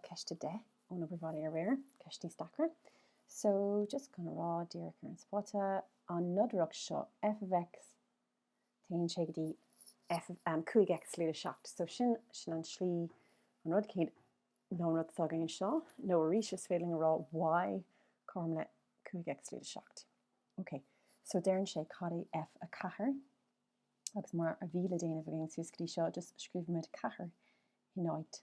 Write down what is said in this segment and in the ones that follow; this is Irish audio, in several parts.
Ceist 10 ón obair bhaile aréir, ceist níos deacra. So, just chun a rá díreach ar an spota, an nodaireacht seo, f of x, téann sé go dtí 5x lúide 7. So, sin, sin an slí, an rud céanna nó an rud atá againn anseo, nó arís is féidir linn a rá y cothrom le 5x lúide 7. Ok, so deireann sé cad é F4 agus mar a bhí le déanamh againn suas go dtí seo, just scríobhaimid 4 in áit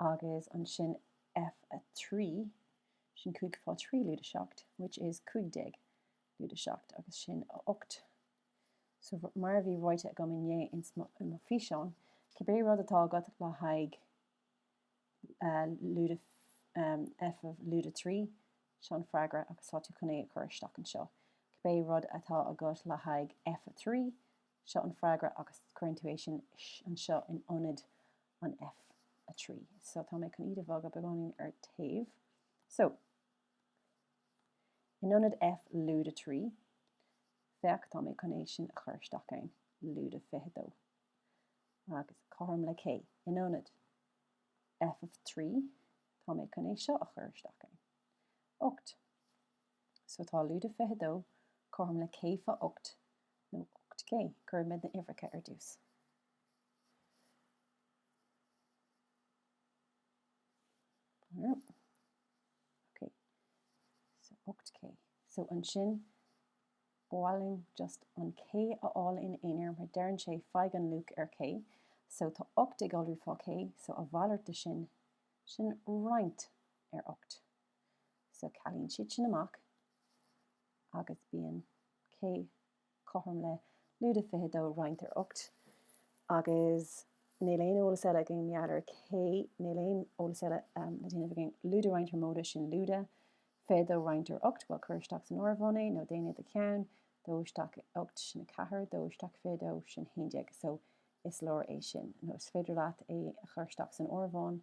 agus ansin F3, sin cúig fá trí lúide seacht, which is cúig déag lúide seacht, agus sin a ocht. So, mar a bhí ráite agam inné insan físeán, cibé rud atá agat le haghaidh lúide, F of lúide trí, seo an freagra agus tá tú chun é a chur isteach anseo. Cibé rud atá agat le haghaidh F3, Seo an freagra agus cuireann tú é sin anseo in ionad an F3. So tá mé chun iad a bhogadh beagáinín ar taobh. So, in ionad F lúide 3, féach tá mé chun é sin a chur isteach ann, lúide 22. Agus cothrom le k, in ionad F of 3, tá mé chun é seo a chur isteach ann, 8. So tá lúide 22 cothrom le k fá ocht nó ocht k. Cuirimid na uimhreacha ar dtús. Ok. So ocht k. So ansin ba mhaith linn just an k a fháil ina aonar mar deireann sé faigh an luach ar k. So tá ocht ag iolrú fá k so a mhalairt de sin, sin roinnt ar ocht. So cealaíonn siad sin amach agus bíonn k cothrom le lúide 22 roinnt ar ocht agus níl aon eolas eile againn mar gheall ar k, níl aon rud eile le déanamh againn lúide roinnt ar móide sin lúide 22 roinnt ar ocht bhuel cuir isteach san áireamhán é nó déan é i do cheann, 2 isteach ar ocht sin 4, 2 isteach 22 sin 11 so is leor é sin nó is féidir leat é a chur isteach san áireamhán